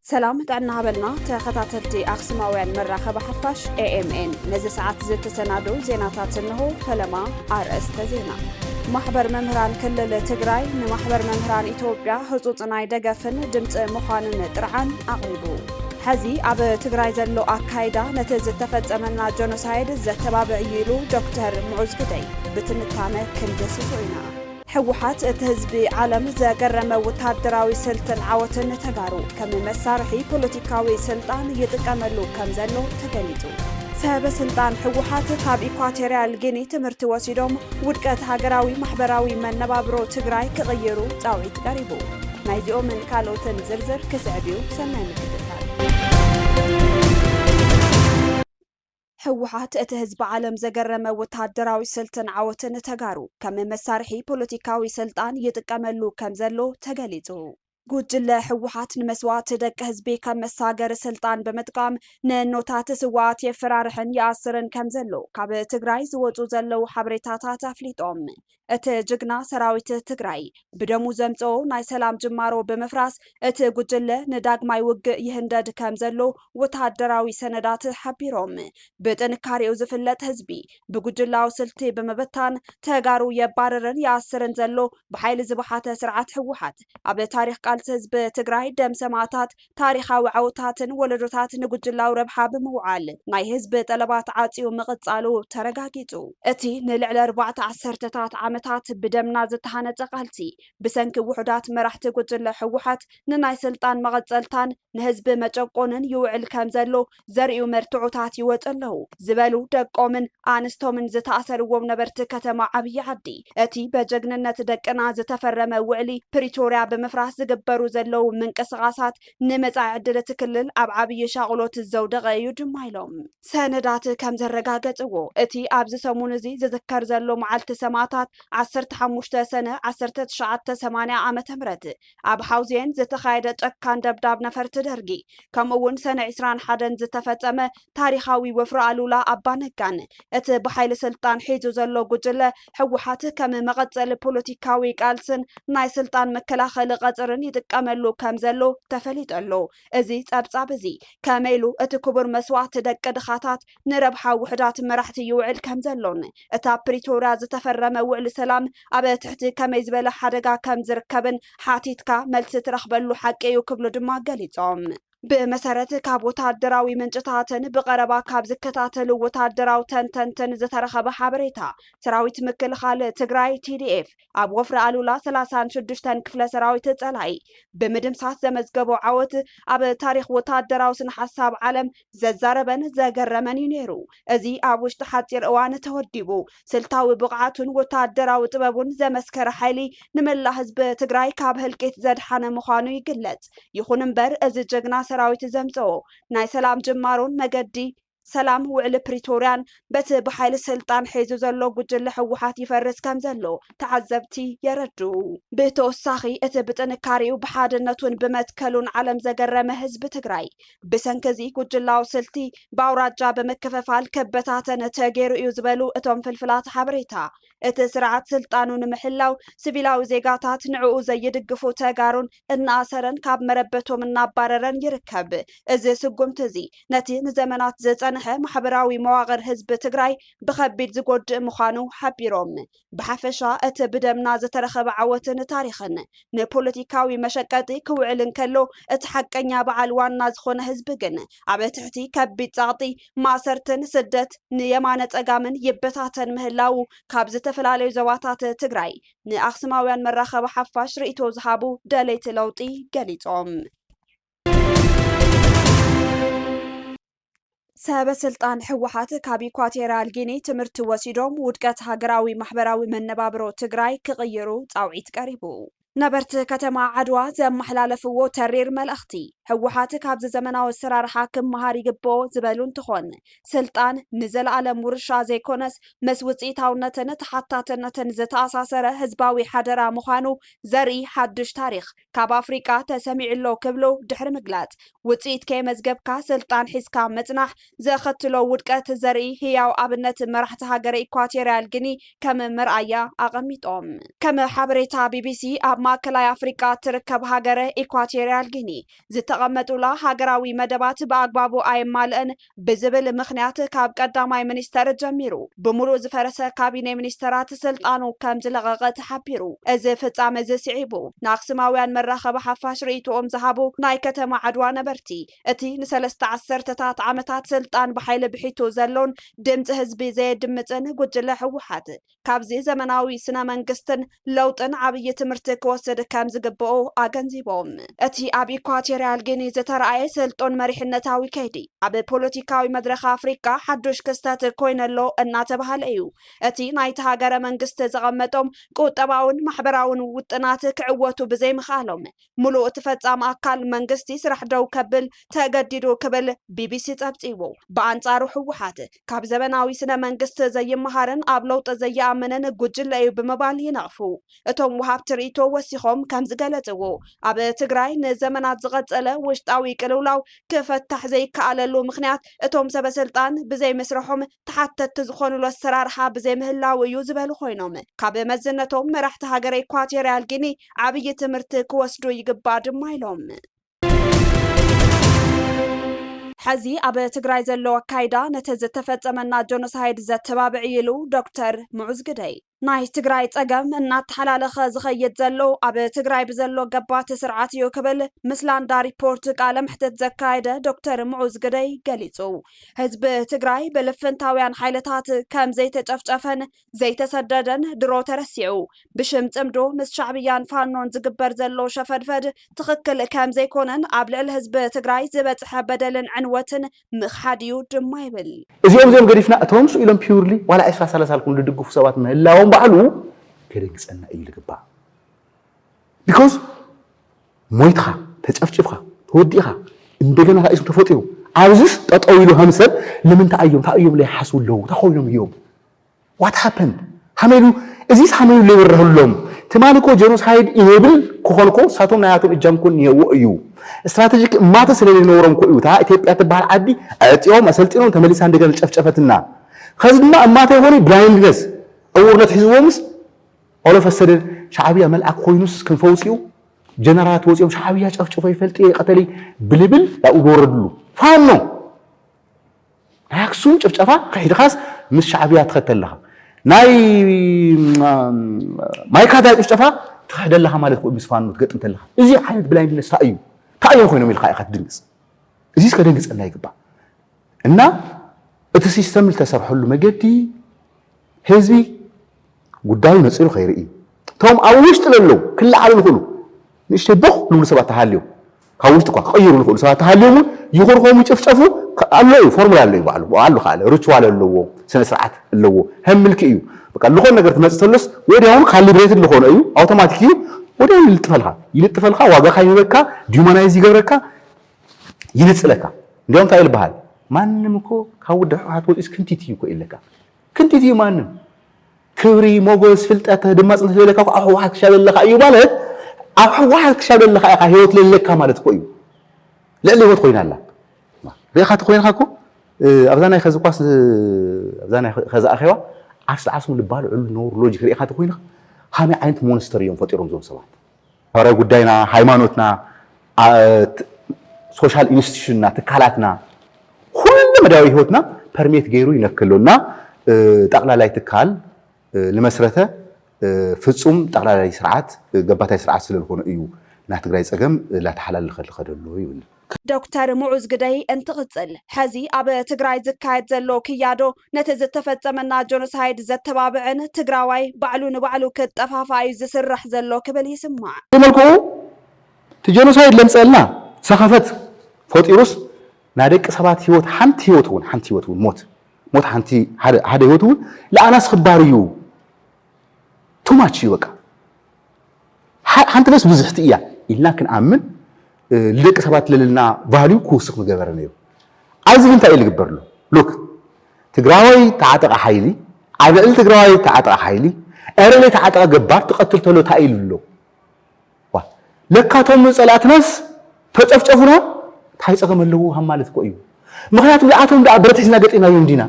ሰላም ጥዕና በልና ተኸታተልቲ ኣክስማውያን መራኸቢ ሓፋሽ ኤኤምኤን ነዚ ሰዓት ዝተሰናደው ዜናታት እንሆ። ፈለማ ኣርእስተ ዜና ማሕበር መምህራን ክልል ትግራይ ንማሕበር መምህራን ኢትዮጵያ ህፁፅ ናይ ደገፍን ድምፂ ምዃንን ጥርዓን ኣቕሪቡ። ሐዚ ኣብ ትግራይ ዘሎ ኣካይዳ ነቲ ዝተፈፀመና ጀኖሳይድ ዘተባብዕ እዩ ኢሉ ዶክተር ሙዑዝ ግደይ። ብትንታነ ክንድህስሶ ኢና። ህወሓት እቲ ህዝቢ ዓለም ዘገረመ ወታደራዊ ስልትን ዓወትን ንተጋሩ ከም መሳርሒ ፖለቲካዊ ስልጣን ይጥቀመሉ ከም ዘሎ ተገሊፁ። ሰበ ስልጣን ህወሓት ካብ ኢኳቶሪያል ጊኒ ትምህርቲ ወሲዶም ውድቀት ሃገራዊ ማሕበራዊ መነባብሮ ትግራይ ክቕይሩ ፃውዒት ቀሪቡ። ናይዚኦምን ካልኦትን ዝርዝር ክስዕብ እዩ፣ ሰናይ ምክትታል። ህወሓት እቲ ህዝቢ ዓለም ዘገረመ ወተሃደራዊ ስልትን ዓወትን ተጋሩ ከም መሳርሒ ፖለቲካዊ ስልጣን ይጥቀመሉ ከም ዘሎ ተገሊፁ። ጉጅለ ህወሓት ንመስዋእቲ ደቂ ህዝቢ ከም መሳገሪ ስልጣን ብምጥቃም ንእኖታት ስውኣት የፈራርሕን ይኣስርን ከም ዘሎ ካብ ትግራይ ዝወፁ ዘለዉ ሓበሬታታት ኣፍሊጦም። እቲ ጅግና ሰራዊት ትግራይ ብደሙ ዘምፀኦ ናይ ሰላም ጅማሮ ብምፍራስ እቲ ጉጅለ ንዳግማይ ውግእ ይህንደድ ከምዘሎ ወተሃደራዊ ሰነዳት ሓቢሮም። ብጥንካሬኡ ዝፍለጥ ህዝቢ ብጉጅላዊ ስልቲ ብምብታን ተጋሩ የባርርን ይኣስርን ዘሎ ብሓይሊ ዝበሓተ ስርዓት ህወሓት ኣብ ታሪኽ ቃልሲ ህዝቢ ትግራይ ደም ሰማእታት ታሪኻዊ ዓወታትን ወለዶታት ንጉጅላዊ ረብሓ ብምውዓል ናይ ህዝቢ ጠለባት ዓጽዩ ምቕጻሉ ተረጋጊጹ። እቲ ንልዕሊ ኣርባዕተ ዓሰርተታት ዓመታት ብደምና ዝተሃነጸ ቃልሲ፣ ብሰንኪ ውሑዳት መራሕቲ ጉጅለ ህወሓት ንናይ ስልጣን መቐጸልታን ንህዝቢ መጨቆንን ይውዕል ከምዘሎ ዘርእዩ መርትዖታት ይወፁ ኣለዉ ዝበሉ ደቆምን ኣንስቶምን ዝተኣሰርዎም ነበርቲ ከተማ ዓብዪ ዓዲ እቲ በጀግንነት ደቅና ዝተፈረመ ውዕሊ ፕሪቶርያ ብምፍራስ ዝግበሩ ዘለዉ ምንቅስቓሳት ንመፃኢ ዕድል እቲ ክልል ኣብ ዓብዪ ሻቕሎት ዘውደቐ እዩ ድማ ኢሎም። ሰነዳት ከም ዘረጋገፅዎ እቲ ኣብዚ ሰሙን እዚ ዝዝከር ዘሎ መዓልቲ ሰማእታት ዓሰርተ ሓሙሽተ ሰነ ዓሰርተ ትሽዓተ ሰማንያ ዓመተ ምህረት ኣብ ሓውዜን ዝተኻየደ ጨካን ደብዳብ ነፈርቲ ደርጊ ከምኡ እውን ሰነ ዕስራን ሓደን ዝተፈፀመ ታሪኻዊ ወፍሪ ኣሉላ ኣባ ነጋን እቲ ብሓይሊ ስልጣን ሒዙ ዘሎ ጉጅለ ህወሓት ከም መቐፀሊ ፖለቲካዊ ቃልስን ናይ ስልጣን መከላኸሊ ቐፅርን ይጥቀመሉ ከም ዘሎ ተፈሊጡ ኣሎ። እዚ ፀብፃብ እዚ ከመይ ኢሉ እቲ ክቡር መስዋእቲ ደቂ ድኻታት ንረብሓ ውሑዳት መራሕቲ ይውዕል ከምዘሎን እቲ ኣብ ፕሪቶርያ ዝተፈረመ ውዕሊ ሰላም ኣብ ትሕቲ ከመይ ዝበለ ሓደጋ ከምዝርከብን ሓቲትካ መልሲ ትረኽበሉ ሓቂ እዩ ክብሉ ድማ ገሊፆም። ብመሰረት ካብ ወታደራዊ ምንጭታትን ብቐረባ ካብ ዝከታተሉ ወታደራዊ ተንተንትን ዝተረኸበ ሓበሬታ፣ ሰራዊት ምክልኻል ትግራይ፣ TDF፣ ኣብ ወፍሪ ኣሉላ ሰላሳን ሽዱሽተን ክፍለ ሰራዊት ፀላኢ ብምድምሳስ ዘመዝገቦ ዓወት ኣብ ታሪኽ ወታደራዊ ስነ ሓሳብ ዓለም ዘዛረበን ዘገረመን እዩ ነይሩ። እዚ ኣብ ውሽጢ ሓፂር እዋን ተወዲቡ ስልታዊ ብቕዓቱን ወታደራዊ ጥበቡን ዘመስከረ ሓይሊ ንመላእ ህዝቢ ትግራይ ካብ ህልቂት ዘድሓነ ምዃኑ ይግለፅ። ይኹን እምበር እዚ ጀግና ሰራዊት ዘምፀኦ ናይ ሰላም ጅማሮን መገዲ ሰላም ውዕሊ ፕሪቶርያን በቲ ብሓይሊ ስልጣን ሒዙ ዘሎ ጉጅለ ህወሓት ይፈርስ ከም ዘሎ ተዓዘብቲ የረድኡ። ብተወሳኺ እቲ ብጥንካሬኡ ብሓድነቱን ብመትከሉን ዓለም ዘገረመ ህዝቢ ትግራይ ብሰንኪ እዚ ጉጅላዊ ስልቲ ብኣውራጃ ብምክፍፋል ክበታተን ተገይሩ እዩ ዝበሉ እቶም ፍልፍላት ሓበሬታ እቲ ስርዓት ስልጣኑ ንምሕላው ስቪላዊ ዜጋታት ንዕኡ ዘይድግፉ ተጋሩን እናኣሰረን ካብ መረበቶም እናባረረን ይርከብ። እዚ ስጉምቲ እዚ ነቲ ንዘመናት ዝፀንሐ ማሕበራዊ መዋቕር ህዝቢ ትግራይ ብኸቢድ ዝጎድእ ምዃኑ ሓቢሮም። ብሓፈሻ እቲ ብደምና ዝተረኸበ ዓወትን ታሪኽን ንፖለቲካዊ መሸቀጢ ክውዕል እንከሎ እቲ ሓቀኛ በዓል ዋና ዝኾነ ህዝቢ ግን ኣብ ትሕቲ ከቢድ ፀቕጢ ማእሰርትን ስደት ንየማነ ፀጋምን ይበታተን ምህላዉ ካብ ዝተፈላለዩ ዞባታት ትግራይ ንኣክሱማውያን መራኸቢ ሓፋሽ ርኢቶ ዝሃቡ ደለይቲ ለውጢ ገሊፆም። ሰበ ስልጣን ህወሓት ካብ ኢኳቴርያል ጊኒ ትምህርቲ ወሲዶም ውድቀት ሃገራዊ ማሕበራዊ መነባብሮ ትግራይ ክቕይሩ ፃውዒት ቀሪቡ። ነበርቲ ከተማ ዓድዋ ዘመሓላለፍዎ ተሪር መልእኽቲ፣ ህወሓት ካብዚ ዘመናዊ ኣሰራርሓ ክመሃር ይግብኦ ዝበሉ እንትኾን፣ ስልጣን ንዘለኣለም ውርሻ ዘይኮነስ ምስ ውፅኢታውነትን ተሓታትነትን ዝተኣሳሰረ ህዝባዊ ሓደራ ምዃኑ ዘርኢ ሓዱሽ ታሪኽ ካብ ኣፍሪቃ ተሰሚዑ'ሎ ክብሉ ድሕሪ ምግላፅ፣ ውፅኢት ከየመዝገብካ ስልጣን ሒዝካ ምፅናሕ ዘኸትሎ ውድቀት ዘርኢ ህያው ኣብነት መራሕቲ ሃገረ ኢኳቶርያል ግኒ ከም መርኣያ ኣቐሚጦም። ከም ሓበሬታ ቢቢሲ፣ ኣብ ማእከላይ ኣፍሪቃ እትርከብ ሃገረ ኢኳቶርያል ጊኒ፣ ዝተቐመጡላ ሃገራዊ መደባት ብኣግባቡ ኣየማልእን ብዝብል ምኽንያት ካብ ቀዳማይ ሚኒስተር ጀሚሩ ብምሉእ ዝፈረሰ ካቢኔ ሚኒስተራት ስልጣኑ ከም ዝለቐቐ ተሓቢሩ። እዚ ፍጻመ እዚ ስዒቡ ንኣክሱማውያን መራኸቢ ሓፋሽ ርእይቶኦም ዝሃቡ ናይ ከተማ ዓድዋ ነበርቲ፣ እቲ ንሰለስተ ዓሰርተታት ዓመታት ስልጣን ብሓይሊ ብሒቱ ዘሎን ድምፂ ህዝቢ ዘየድምፅን ጉጅለ ህወሓት ካብዚ ዘመናዊ ስነ መንግስትን ለውጥን ዓብዪ ትምህርቲ ክወስድ ከም ዝግበኦ ኣገንዚቦም። እቲ ኣብ ኢኳቶሪያል ጊኒ ዝተርኣየ ስልጡን መሪሕነታዊ ከይዲ ኣብ ፖለቲካዊ መድረኽ ኣፍሪካ ሓዱሽ ክስተት ኮይኑ ኣሎ እናተብሃለ እዩ። እቲ ናይቲ ሃገረ መንግስቲ ዘቐመጦም ቁጠባውን ማሕበራውን ውጥናት ክዕወቱ ብዘይምኽኣሎም ሙሉእ እቲ ፈፃሚ ኣካል መንግስቲ ስራሕ ደው ከብል ተገዲዱ ክብል ቢቢሲ ፀብፂቡ። ብኣንፃሩ ህወሓት ካብ ዘበናዊ ስነ መንግስቲ ዘይመሃርን ኣብ ለውጢ ዘይኣምንን ጉጅለ እዩ ብምባል ይነቕፉ። እቶም ወሃብቲ ሪኢቶ ወሲኾም ከምዝገለፅዎ ኣብ ትግራይ ንዘመናት ዝቐፀለ ውሽጣዊ ቅልውላው ክፈታሕ ዘይከኣለሉ ምኽንያት እቶም ሰበስልጣን ብዘይምስርሖም ተሓተትቲ ዝኾኑሉ ኣሰራርሓ ብዘይምህላዉ እዩ ዝበሉ ኮይኖም ካብ መዝነቶም መራሕቲ ሃገረ ኢኳቶርያል ጊኒ ዓብዪ ትምህርቲ ክወስዱ ይግባእ ድማ ኢሎም። ሐዚ ኣብ ትግራይ ዘሎ ኣካይዳ ነቲ ዝተፈፀመና ጆኖሳይድ ዘተባብዕ እዩ ኢሉ ዶክተር ሙዑዝ ግደይ። ናይ ትግራይ ፀገም እናተሓላለኸ ዝኸይድ ዘሎ ኣብ ትግራይ ብዘሎ ገባቲ ስርዓት እዩ ክብል ምስ ላንዳ ሪፖርት ቃለ መሕትት ዘካየደ ዶክተር ምዑዝ ግደይ ገሊፁ። ህዝቢ ትግራይ ብልፍንታውያን ሓይልታት ከም ዘይተጨፍጨፈን ዘይተሰደደን ድሮ ተረሲዑ ብሽም ፅምዶ ምስ ሻዕብያን ፋኖን ዝግበር ዘሎ ሸፈድፈድ ትኽክል ከም ዘይኮነን ኣብ ልዕሊ ህዝቢ ትግራይ ዝበፅሐ በደልን ዕንወትን ምኽሓድ እዩ ድማ ይብል። እዚኦም እዚኦም ገዲፍና እቶም ስኡ ኢሎም ፒውርሊ ዋላ ዕስራ ሰላሳ ኢልኩም ዝድግፉ ሰባት ምህላዎም ባዕሉ ከደንግጸና እዩ ዝግባእ። ቢኮዝ ሞይትኻ፣ ተጨፍጪፍካ፣ ተወዲእኻ እንደገና ካእ ኢሱ ተፈጢሩ ኣብዚስ ጠጠው ኢሉ ከም ሰብ ንምንታይ ኣዮም እንታይ ኣዮም ለይሓስቡ ኣለዉ እንታይ ኮይኖም እዮም ዋት ሃፐንድ ሃመሉ እዚስ ሃመሉ ለይበረህሎም ትማሊ እኮ ጀኖሳይድ ኢኔብል ክኾኑ እኮ እሳቶም ናያቶም እጃም እኮ እኒሄዎ እዩ ስትራቴጂክ እማተ ስለለይኖሮም እኮ እዩ እታ ኢትዮጵያ ትበሃል ዓዲ ኣዕፂዮም ኣሰልጢኖም ተመሊሳ እንደገና ጨፍጨፈትና ከዚ ድማ እማተ ይኾኑ ብላይንድነስ ዕውርነት ሒዝዎምስ ኦሎፈሰደን ሻዕብያ መልኣክ ኮይኑስ ክንፈ ውፅኡ ጀነራላት ወፂኦም ሻዕብያ ጨፍጭፎ ይፈልጥ እየ ይቀተል ብልብል ኣብኡ ዝወረድሉ ፋኖ ናይ ኣክሱም ጭፍጨፋ ክሒድኻስ ምስ ሻዕብያ ትኸተል ኣለኻ ናይ ማይካድራ ጭፍጨፋ ትኽሕደ ኣለኻ ማለት ክኡ ምስ ፋኖ ትገጥም ተለኻ እዚ ዓይነት ብላይንድነስ እንታይ እዩ እንታይ እዮም ኮይኖም ኢልካ ኢኻ ትድንግፅ እዚ እስከ ደንግፀና ይግባእ እና እቲ ሲስተም ዝተሰርሐሉ መገዲ ህዝቢ ጉዳዩ ነጺሩ ከይርኢ፣ እቶም ኣብ ውሽጢ ለለዉ ክለዓሉ ልኽእሉ ንእሽተይ ቦኽ ልብሉ ሰባት ተሃልዮም፣ ካብ ውሽጢ እኳ ክቕይሩ ልኽእሉ ሰባት ተሃልዮም እውን ይኹርኾሙ ይጭፍጨፉ ኣሎ እዩ፣ ፎርሙላ ኣሎ እዩ ባዕሉ፣ ብኡ ኣሉ ከኣለ ርችዋል ኣለዎ፣ ስነ ስርዓት ኣለዎ፣ ሀም ምልኪ እዩ፣ በቃ ልኾን ነገር ትመጽእ ተሎስ ወዲያውኑ ካሊብሬትድ ልኾኖ እዩ፣ ኣውቶማቲክ እዩ፣ ወዲያውኑ ይልጥፈልካ፣ ይልጥፈልካ፣ ዋጋኻ ይህበካ፣ ዲዩማናይዝ ይገብረካ፣ ይንጽለካ፣ እንዲያውም እንታይ እዩ ልበሃል፣ ማንም እኮ ካብ ውድብ ህወሓት ወጺኡስ ክንቲት እዩ እኮ እዩ ልብለካ። ክንቲት እዩ ማንም ክብሪ ሞጎስ ፍልጠት ድማ ጽንት ዘለካ ኣብ ሕወሓት ክሻብ ዘለካ እዩ ማለት ኣብ ሕወሓት ክሻብ ዘለካ ኢኻ ህይወት ዘለካ ማለት እኮ እዩ ልዕሊ ህይወት ኮይና ኣላ ሪኢኻ ተኮይንካ እኮ ኣብዛ ናይ ከዚ ኳስ ኣብዛ ናይ ከዚ ኣኼባ ዓርሲ ዓስሙ ልባል ዕሉ ነውር ሎጂክ ሪኢኻ ተኮይንካ ሃመይ ዓይነት ሞንስተር እዮም ፈጢሮም ዞም ሰባት ኧረ ጉዳይና ሃይማኖትና ሶሻል ኢንስቲቱሽንና ትካላትና ኩሉ መዳያዊ ህይወትና ፐርሜት ገይሩ ይነክ ኣሎ እና ጠቕላላይ ትካል ልመስረተ ፍፁም ጠቕላላይ ስርዓት ገባታይ ስርዓት ስለልኾነ እዩ ናትግራይ ፀገም ላተሓላልኸ ልኸደሎ ይብል። ዶክተር ሙዑዝ ግደይ እንትቕፅል፣ ሐዚ ኣብ ትግራይ ዝካየድ ዘሎ ክያዶ ነቲ ዝተፈፀመና ጆኖሳይድ ዘተባብዕን ትግራዋይ ባዕሉ ንባዕሉ ክጠፋፋእ እዩ ዝስራሕ ዘሎ ክብል ይስማዕ። ብመልክዑ እቲ ጆኖሳይድ ለምፀእልና ሰኸፈት ፈጢሩስ ናይ ደቂ ሰባት ህይወት ሓንቲ ህይወት እውን ሓንቲ ህይወት እውን ሞት ሞት ሓንቲ ሓደ ህይወት እውን ለኣናስ ክባር እዩ ቱማች እዩ በቃ ሓንቲ ነፍስ ብዝሕቲ እያ ኢልና ክንኣምን ልደቂ ሰባት ለለና ቫልዩ ክውስኽ ምገበረ ነይሩ። ኣብዚ ግን እንታይ እዩ ልግበርሉ? ሉክ ትግራዋይ ተዓጠቐ ሓይሊ ኣብ ልዕሊ ትግራዋይ ተዓጠቐ ሓይሊ ዕረ ዘይተዓጠቐ ገባር ትቐትል ተሎ እንታይ እዩ ልብሎ? ዋ ለካ እቶም ጸላእትናስ ተጨፍጨፉና እንታይ ጸገም ኣለዎ ሃብ ማለት እኮ እዩ። ምኽንያቱ ንኣቶም ደኣ ብረት ሒዝና ገጢምናዮም ዲና?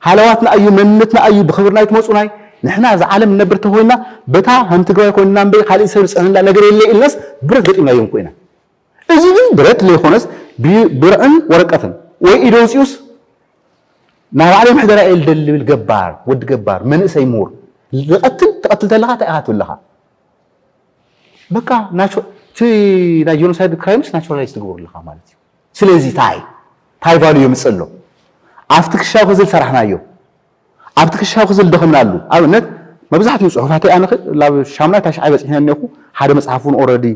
ሃለዋትና ኣዩ መንነትና ኣዩ ብክብርና ኣይትመጹናይ ንሕና እዛ ዓለም ንነብር ተኮይና በታ ከም ትግራዋይ ኮይንና እምበይ ካልእ ሰብ ዝጸዕነና ነገር የለ ኢልናስ ብረት ገጢምናዮ እንኮ ኢና እዚ ግን ብረት ለይኮነስ ብርዕን ወረቀትን ወይ ኢደ ኣውጺኡስ ናይ ባዕለይ ምሕደራ እየ ልደሊ ልብል ገባር ወዲ ገባር መንእሰይ ምሁር ዝቐትል ትቐትል ተለኻ እንታይ ኢኻ ትብል ኣለኻ በቃ እቲ ናይ ጀኖሳይድ ክራይምስ ናቹራላይዝ ትገብሩ ኣለኻ ማለት እዩ ስለዚ ታይ ታይ ቫሉ የምፅእ ኣሎ ኣብቲ ክሻው ክዝል ሰራሕናዮ ኣብቲ ክሻው ክዝል ደኸምናሉ ኣብነት መብዛሕትኡ ፅሑፋተይ ኣነ ላብ ሻሙናይ ታሽዓይ በፂሕነ እኔኹ ሓደ መፅሓፍ እውን ኦረዲ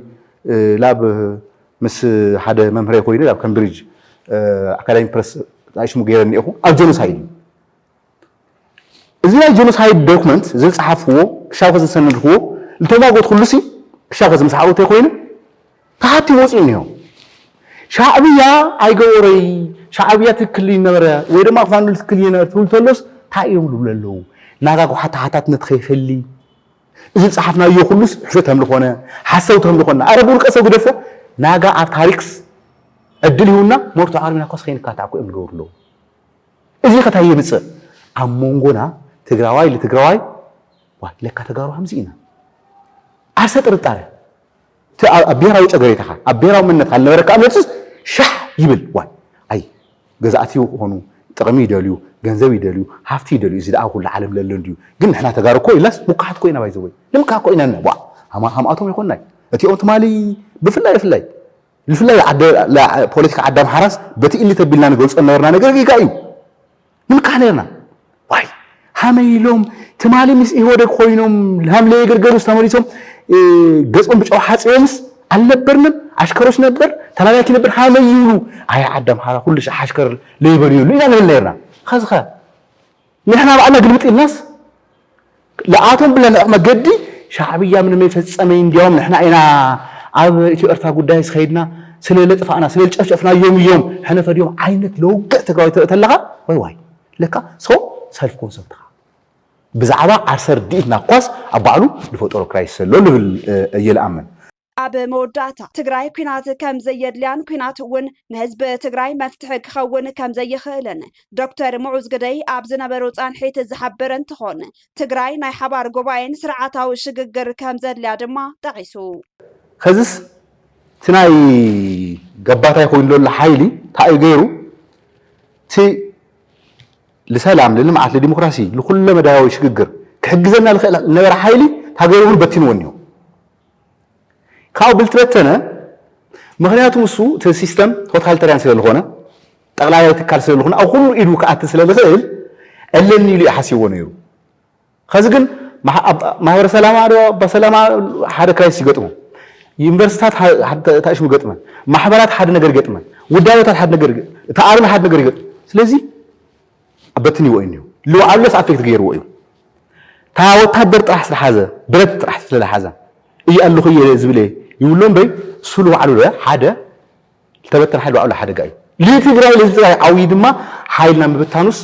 ላብ ምስ ሓደ መምህረይ ኮይኑ ላብ ከምብሪጅ ኣካዳሚ ፕረስ ሽሙ ገይረ እኔኹ ኣብ ጀኖሳይድ እዩ እዚ ናይ ጀኖሳይድ ዶክመንት ዝጸሓፍዎ ክሻውከ ዝሰነድክዎ ዝተማጎትኩሉሲ ክሻውከ ዝምስሓቁ እንተይኮይኑ ተሓቲሙ ወፂኡ እኒሆ ሻዕብያ ኣይገበሮይ ሻዕብያ ትክክል ይነበረ ወይ ድማ ክፋንሉ ትክክል ይነበረ ትብል ተሎስ እንታይ እዮም ዝብሉ ኣለዉ ናጋ ጓሓ ተሓታትነት ከይፈሊ እዚ ዝፀሓፍናዮ ኩሉስ ሕሾት ከም ዝኾነ ሓሰውቲ ከም ዝኾነ ኣረ ብውልቀ ሰው ግደፎ ናጋ ኣብ ታሪክስ ዕድል ይሁና ሞርቶ ዓርቢና ኮስ ከይንካታዕ እኮ እዮም ዝገብሩ ኣለዉ እዚ ከ ታይ የምፅእ ኣብ ሞንጎና ትግራዋይ ልትግራዋይ ዋይ ለካ ተጋሩ ከምዚ ኢና ዓርሰ ጥርጣረ እቲ ኣብ ብሄራዊ ጨገሬታኻ ኣብ ብሄራዊ መንነትካ ልነበረካ እምነትስ ሻሕ ይብል ዋይ ኣይ ገዛእቲ ክኾኑ ጥቕሚ ይደልዩ ገንዘብ ይደልዩ ሃፍቲ ይደልዩ እዚ ደኣ ኩሉ ዓለም ለሎ እንድዩ ግን ንሕና ተጋሩ እኮ ኢልናስ ሙካሓት እኮ ኢና ባይዘወይ ንምካሕ እኮ ኢና ዋ ሃማ ሃምኣቶም ኣይኮንናይ እቲኦም ትማሊ ብፍላይ ብፍላይ ብፍላይ ፖለቲካ ዓዲ ኣምሓራስ በቲ እሊ ተቢልና ንገልጾ ዝነበርና ነገር ጌጋ እዩ ንልቃሕ ነርና ዋይ ሃመይ ኢሎም ትማሊ ምስ ኢህወደግ ኮይኖም ሃምለ የገርገሩስ ተመሊሶም ገጾም ብጨው ሓጽዮምስ ኣልነበርንም ኣሽከሮች ነበር ተላላኪ ነበር ሃመይ ይብሉ ኣይ ዓዲ ኣምሓራ ኩሉ ሻሕ ኣሽከር ለይበልየሉ ኢና ንብል ነርና ኸዚ ኸ ንሕና ባዕልና ግልብጥ ኢልናስ ልኣቶም ብለንዕ መገዲ ሻዕብያ ምንም ኣይፈጸመይ እንዲያውም ንሕና ኢና ኣብ ኢትዮ ኤርትራ ጉዳይስ ከይድና ስለ ለጥፋእና ስለ ልጨፍጨፍናዮም እዮም ሕነ ፈድዮም ዓይነት ለውግዕ ትግራዊ ትርኢ ተለኻ ዋይ ዋይ ለካ ሰው ሰልፍ ኮንሰፕት ትኻ ብዛዕባ ዓርሰ ርድኢትና እኳስ ኣብ ባዕሉ ዝፈጠሮ ክራይስ ዘሎ ልብል እየ ልኣምን ኣብ መወዳእታ፣ ትግራይ ኲናት ከም ዘየድልያን ኲናት እውን ንህዝቢ ትግራይ መፍትሒ ክኸውን ከም ዘይኽእልን ዶክተር ሙዑዝ ግደይ ኣብ ዝነበሮ ፃንሒት ዝሓበረ እንትኾን ትግራይ ናይ ሓባር ጉባኤን ስርዓታዊ ሽግግር ከም ዘድልያ ድማ ጠቒሱ። ኸዚስ እቲ ናይ ገባታይ ኮይኑ ዘሎ ሓይሊ ታይእዩ ገይሩ እቲ ልሰላም ልልምዓት ልዲሞክራሲ ልኩለመዳያዊ ሽግግር ክሕግዘና ልኽእል ልነበረ ሓይሊ ታገሩ እውን በቲንዎ እኒሆ። ካብኡ ብልትበተነ ምክንያቱ ንሱ እቲ ሲስተም ቶታልተርያን ስለ ዝኾነ ጠቕላላይ ትካል ስለ ዝኾነ ኣብ ኩሉ ኢዱ ክኣቲ ስለ ዝኽእል ኣለኒ ኢሉ እዩ ሓሲብዎ ነይሩ ከዚ ግን ማሕበረ ሰላማ ዶ በሰላማ ሓደ ክራይስ ይገጥሞ ዩኒቨርሲታት ታእሽሙ ገጥመን ማሕበራት ሓደ ነገር ይገጥመን ውዳበታት ሓደ ነገር እቲ ኣርሚ ሓደ ነገር ይገጥም ስለዚ ኣበትኒዎ እዩ ኒሁ ልውዓልሎስ ኣፌክት ገይርዎ እዩ እታ ወታደር ጥራሕ ስለሓዘ ብረት ጥራሕ ስለለሓዘ እየ ኣለኹ እየ ዝብል እየ ይብሎ እምበይ እሱ ልውዓሉ ሓደ ዝተበተነ ሓይል ልውዓሉ ሓደጋ እዩ ልትግራይ ልህዝቢ ትግራይ ዓውዪ ድማ ሓይልና ምብታኑስ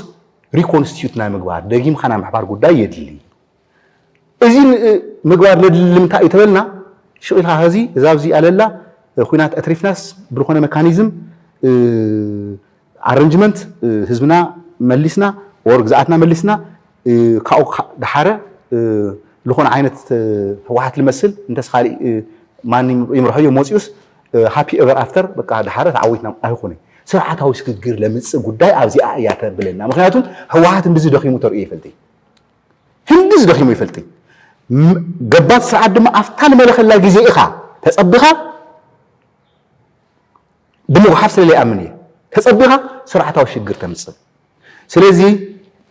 ሪኮንስቲዩት ናይ ምግባር ደጊምካ ናይ ምሕባር ጉዳይ የድሊ እዚ ምግባር ነድሊ ልምንታይ እዩ ተበልና ሽቅ ኢልካ ኸዚ እዛ ኣብዚ ኣለላ ኹናት ኣትሪፍናስ ብልኾነ መካኒዝም ኣረንጅመንት ህዝብና መሊስና ወር ግዝኣትና መሊስና ካብኡ ደሓረ ልኾነ ዓይነት ህወሓት ልመስል እንተስ ኻሊእ ማን ይምርሖዮ ሞፂኡስ ሃፒ ኤቨር ኣፍተር በቃ ደሓረ ተዓዊትና ኣይኾነ ስርዓታዊ ስግግር ለምፅእ ጉዳይ ኣብዚኣ እያ ተብለና ምክንያቱም ህወሓት እንድዚ ደኺሙ ተርእዮ ይፈልጥ እዩ ህንድዝ ደኺሙ ይፈልጢ ገባቲ ስርዓት ድማ ኣብታ ንመለኸላ ግዜ ኢኻ ተጸቢኻ ብምጉሓፍ ስለ ዘይኣምን እየ ተጸቢኻ ስርዓታዊ ሽግር ተምጽእ ስለዚ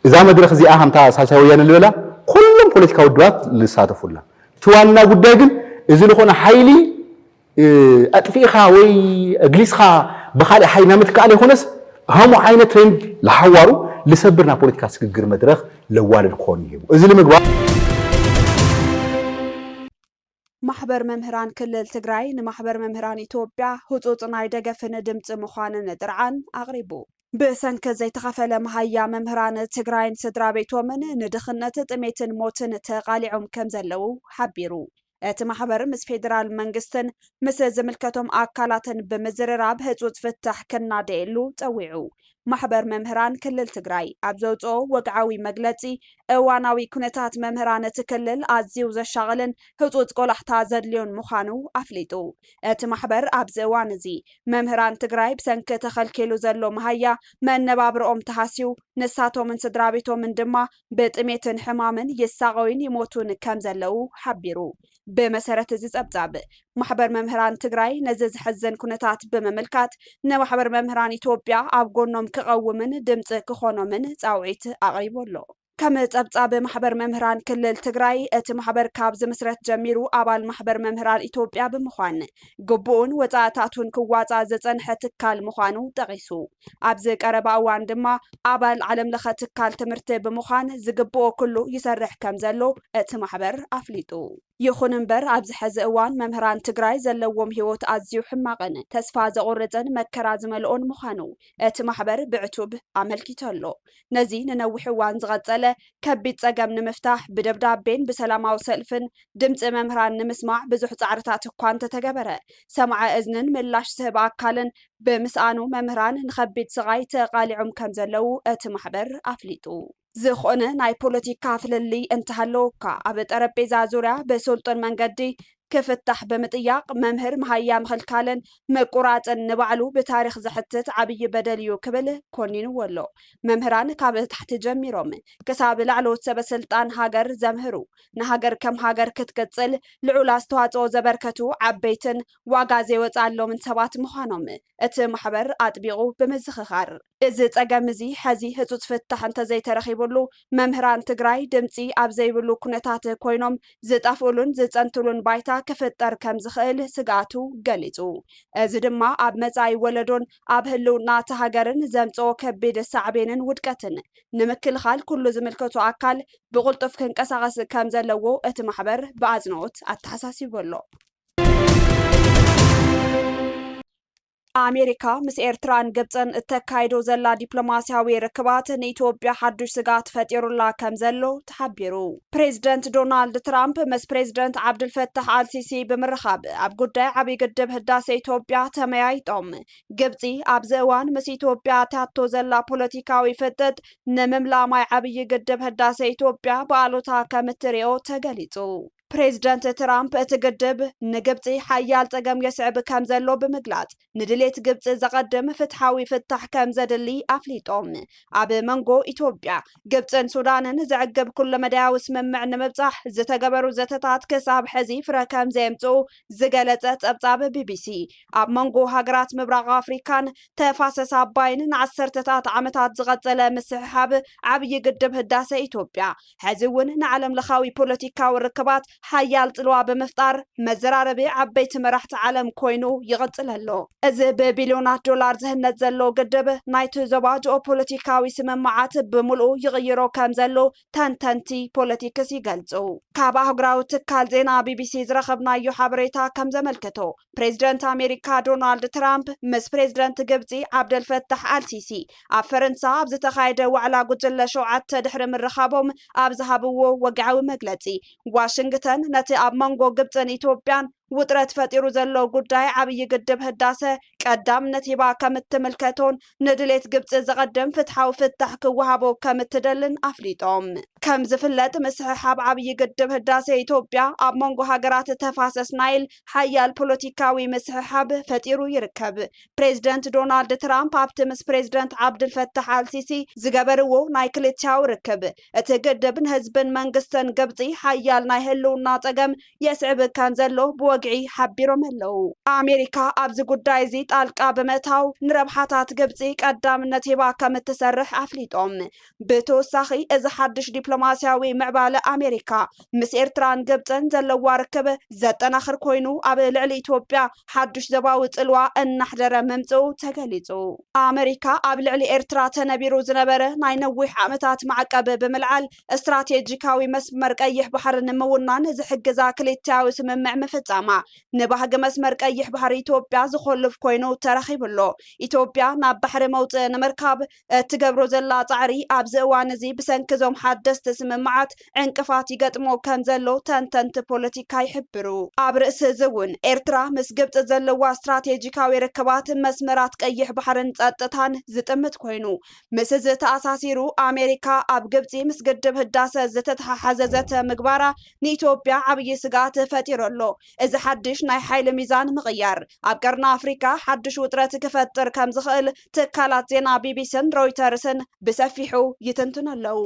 እዛ መድረኽ እዚኣ ከምታ ሳልሳይ ወያነ ዝበላ ኩሎም ፖለቲካ ውድባት ዝሳተፉላ እቲ ዋና ጉዳይ ግን እዚ ዝኾነ ሓይሊ ኣጥፊእኻ ወይ ኣግሊጽካ ብኻልእ ሓይሊ ናብ ምትካእ ለይኮነስ ኸምኡ ዓይነት ትሬንድ ለሓዋሩ ልሰብር ናብ ፖለቲካ ስግግር መድረኽ ለዋልድ ክኾን ይህቡ እዚ ልምግባር ማሕበር መምህራን ክልል ትግራይ ንማሕበር መምህራን ኢትዮጵያ ህፁፅ ናይ ደገፍን ድምፂ ምዃንን ጥርዓን ኣቕሪቡ። ብሰንኪ ዘይተኸፈለ መሃያ መምህራን ትግራይን ስድራቤቶምን ንድኽነት፣ ጥሜትን ሞትን ተቓሊዖም ከምዘለዉ ሓቢሩ። እቲ ማሕበር ምስ ፌዴራል መንግስትን ምስ ዝምልከቶም ኣካላትን ብምዝርራብ ህፁፅ ፍታሕ ክናደየሉ ፀዊዑ። ማሕበር መምህራን ክልል ትግራይ ኣብ ዘውፅኦ ወግዓዊ መግለፂ እዋናዊ ኩነታት መምህራን እቲ ክልል ኣዝዩ ዘሻቕልን ህፁፅ ቆላሕታ ዘድልዮን ምዃኑ ኣፍሊጡ። እቲ ማሕበር ኣብዚ እዋን እዚ መምህራን ትግራይ ብሰንኪ ተኸልኪሉ ዘሎ መሃያ መነባብርኦም ተሃስዩ ንሳቶምን ስድራቤቶምን ድማ ብጥሜትን ሕማምን ይሳቐዩን ይሞቱን ከም ዘለዉ ሓቢሩ። ብመሰረት እዚ ፀብፃብ፣ ማሕበር መምህራን ትግራይ ነዚ ዘሕዝን ኩነታት ብምምልካት ንማሕበር መምህራን ኢትዮጵያ ኣብ ጎኖም ክቐውምን ድምፂ ክኾኖምን ፃውዒት ኣቕሪቡ ኣሎ። ከም ፀብፃብ ማሕበር መምህራን ክልል ትግራይ፣ እቲ ማሕበር ካብ ዝምስረት ጀሚሩ ኣባል ማሕበር መምህራን ኢትዮጵያ ብምዃን ግቡኡን ወፃእታቱን ክዋፃእ ዝፀንሐ ትካል ምዃኑ ጠቒሱ። ኣብዚ ቀረባ እዋን ድማ ኣባል ዓለም ለኸ ትካል ትምህርቲ ብምዃን ዝግብኦ ኩሉ ይሰርሕ ከምዘሎ እቲ ማሕበር ኣፍሊጡ። ይኹን እምበር ኣብዚ ሐዚ እዋን መምህራን ትግራይ ዘለዎም ህይወት ኣዝዩ ሕማቕን ተስፋ ዘቑርፅን መከራ ዝመልኦን ምዃኑ እቲ ማሕበር ብዕቱብ ኣመልኪቱ ኣሎ። ነዚ ንነዊሕ እዋን ዝቐፀለ ከቢድ ፀገም ንምፍታሕ ብደብዳቤን ብሰላማዊ ሰልፍን ድምፂ መምህራን ንምስማዕ ብዙሕ ፃዕርታት እኳ እንተተገበረ ሰማዐ እዝንን ምላሽ ዝህብ ኣካልን ብምስኣኑ መምህራን ንኸቢድ ስቓይ ተቓሊዖም ከምዘለዉ እቲ ማሕበር ኣፍሊጡ። ዝኾነ ናይ ፖለቲካ ፍልልይ እንተሃለወካ ኣብ ጠረጴዛ ዙርያ ብስልጡን መንገዲ ክፍታሕ ብምጥያቕ መምህር መሃያ ምኽልካልን ምቁራፅን ንባዕሉ ብታሪኽ ዘሕትት ዓብዪ በደል እዩ ክብል ኮኒንዎ ኣሎ። መምህራን ካብ ታሕቲ ጀሚሮም ክሳብ ላዕለዎት ሰበስልጣን ሃገር ዘምህሩ፣ ንሃገር ከም ሃገር ክትቅፅል ልዑል ኣስተዋፅኦ ዘበርከቱ ዓበይትን ዋጋ ዘይወጽኣሎምን ሰባት ምዃኖም እቲ ማሕበር ኣጥቢቑ ብምዝኽኻር፣ እዚ ጸገም እዚ ሐዚ ህጹጽ ፍታሕ እንተዘይተረኺቡሉ መምህራን ትግራይ ድምጺ ኣብ ዘይብሉ ኩነታት ኮይኖም ዝጠፍኡሉን ዝጸንትሉን ባይታ ክፍጠር ከምዝኽእል ስግኣቱ ገሊጹ። እዚ ድማ ኣብ መጻኢ ወለዶን ኣብ ህልውና እታ ሃገርን ዘምጽኦ ከቢድ ሳዕቤንን ውድቀትን ንምክልኻል ኩሉ ዝምልከቶ ኣካል ብቕልጡፍ ክንቀሳቐስ ከምዘለዎ እቲ ማሕበር ብኣጽንኦት ኣተሓሳሲቡ ኣሎ። ኣሜሪካ ምስ ኤርትራን ግብፅን እተካይዶ ዘላ ዲፕሎማስያዊ ርክባት ንኢትዮጵያ ሓዱሽ ስጋት ፈጢሩላ ከም ዘሎ ተሓቢሩ ፕሬዚደንት ዶናልድ ትራምፕ ምስ ፕሬዚደንት ዓብድልፈታሕ ኣልሲሲ ብምርኻብ ኣብ ጉዳይ ዓብዪ ግድብ ህዳሴ ኢትዮጵያ ተመያይጦም ግብፂ ኣብዚ እዋን ምስ ኢትዮጵያ ኣትያቶ ዘላ ፖለቲካዊ ፍጥጥ ንምምላማይ ዓብዪ ግድብ ህዳሴ ኢትዮጵያ ብኣሉታ ከም እትሪኦ ተገሊፁ ፕሬዝደንት ትራምፕ እቲ ግድብ ንግብፂ ሓያል ፀገም የስዕብ ከምዘሎ ብምግላፅ ንድሌት ግብፂ ዘቐድም ፍትሓዊ ፍታሕ ከምዘድሊ ኣፍሊጦም። ኣብ መንጎ ኢትዮጵያ፣ ግብፅን ሱዳንን ዘዕግብ ኩለመዳያዊ ስምምዕ ንምብፃሕ ዝተገበሩ ዘተታት ክሳብ ሕዚ ፍረ ከምዘየምፅኡ ዝገለፀ ፀብፃብ ቢቢሲ፣ ኣብ መንጎ ሃገራት ምብራቕ ኣፍሪካን ተፋሰስ ኣባይን ንዓሰርተታት ዓመታት ዝቐፀለ ምስሕሓብ ዓብዪ ግድብ ህዳሰ ኢትዮጵያ ሐዚ እውን ንዓለም ለኻዊ ፖለቲካዊ ርክባት ሓያል ፅልዋ ብምፍጣር መዘራረቢ ዓበይቲ መራሕቲ ዓለም ኮይኑ ይቕፅል ኣሎ። እዚ ብቢልዮናት ዶላር ዝህነፅ ዘሎ ግድብ ናይቲ ዞባ ጂኦፖለቲካዊ ስምምዓት ብሙልኡ ይቕይሮ ከምዘሎ ተንተንቲ ፖለቲክስ ይገልፁ። ካብ ኣህጉራዊ ትካል ዜና ቢቢሲ ዝረኸብናዮ ሓበሬታ ከምዘመልክቶ ፕሬዝደንት ኣሜሪካ ዶናልድ ትራምፕ ምስ ፕሬዝደንት ግብፂ ዓብደልፈታሕ ኣልሲሲ ኣብ ፈረንሳ ኣብ ዝተኻየደ ዋዕላ ጉጅለ ሸውዓተ ድሕሪ ምርኻቦም ኣብ ዝሃብዎ ወግዓዊ መግለጺ፣ ዋሽንግተን ነቲ ኣብ መንጎ ግብጽን ኢትዮጵያን ውጥረት ፈጢሩ ዘሎ ጉዳይ ዓብዪ ግድብ ህዳሰ ቀዳምነት ሂባ ከም እትምልከቶን ንድሌት ግብጺ ዘቐድም ፍትሓዊ ፍታሕ ክወሃቦ ከም እትደልን ኣፍሊጦም። ከም ዝፍለጥ ምስሕሓብ ዓብዪ ግድብ ህዳሰ ኢትዮጵያ ኣብ መንጎ ሃገራት ተፋሰስ ናይል ሓያል ፖለቲካዊ ምስሕሓብ ፈጢሩ ይርከብ። ፕሬዚደንት ዶናልድ ትራምፕ ኣብቲ ምስ ፕሬዚደንት ዓብድልፈታሕ ኣልሲሲ ዝገበርዎ ናይ ክልቲኣዊ ርክብ እቲ ግድብ ንህዝብን መንግስትን ግብፂ ሓያል ናይ ህልውና ፀገም የስዕብ ከምዘሎ ብወግዒ ሓቢሮም ኣለው። ኣሜሪካ ኣብዚ ጉዳይ እዚ ጣልቃ ብምእታው ንረብሓታት ግብፂ ቀዳምነት ሂባ ከምትሰርሕ ኣፍሊጦም። ብተወሳኺ እዚ ሓድሽ ዲፕሎማስያዊ ምዕባለ ኣሜሪካ ምስ ኤርትራን ግብፅን ዘለዋ ርክብ ዘጠናኽር ኮይኑ ኣብ ልዕሊ ኢትዮጵያ ሓዱሽ ዘባዊ ፅልዋ እናሕደረ ምምፅኡ ተገሊፁ። ኣመሪካ ኣብ ልዕሊ ኤርትራ ተነቢሩ ዝነበረ ናይ ነዊሕ ዓመታት ማዕቀብ ብምልዓል ስትራቴጂካዊ መስመር ቀይሕ ባሕሪ ንምውናን ዝሕግዛ ክልቲኣዊ ስምምዕ ምፍፃማ ንባህጊ መስመር ቀይሕ ባሕሪ ኢትዮጵያ ዝኾልፍ ኮይኑ ተረኺቡ'ሎ። ኢትዮጵያ ናብ ባሕሪ መውፅኢ ንምርካብ እትገብሮ ዘላ ጻዕሪ ኣብዚ እዋን እዚ ብሰንኪ እዞም ሓደስቲ ስምምዓት ዕንቅፋት ይገጥሞ ከም ዘሎ ተንተንቲ ፖለቲካ ይሕብሩ። ኣብ ርእሲ እዚ እውን ኤርትራ ምስ ግብጺ ዘለዋ ስትራቴጂካዊ ርክባት፣ መስመራት ቀይሕ ባሕርን ጸጥታን ዝጥምት ኮይኑ፣ ምስ እዚ ተኣሳሲሩ ኣሜሪካ ኣብ ግብጺ ምስ ግድብ ህዳሰ ዝተተሓሓዘ ዘተ ምግባራ ንኢትዮጵያ ዓብዪ ስግኣት ፈጢሩ ኣሎ። እዚ ሓድሽ ናይ ሓይሊ ሚዛን ምቕያር ኣብ ቀርኒ ኣፍሪቃ ሓድሽ ውጥረት ክፈጥር ከም ዝኽእል ትካላት ዜና ቢቢሲን ሮይተርስን ብሰፊሑ ይትንትኑ ኣለዉ።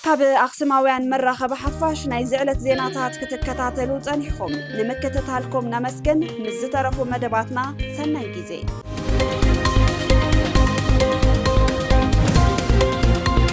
ካብ ኣኽስማውያን መራኸቢ ሓፋሽ ናይዚ ዕለት ዜናታት ክትከታተሉ ጸኒሕኹም ንምክትታልኩም ነመስግን። ምስ ዝተረፉ መደባትና ሰናይ ጊዜ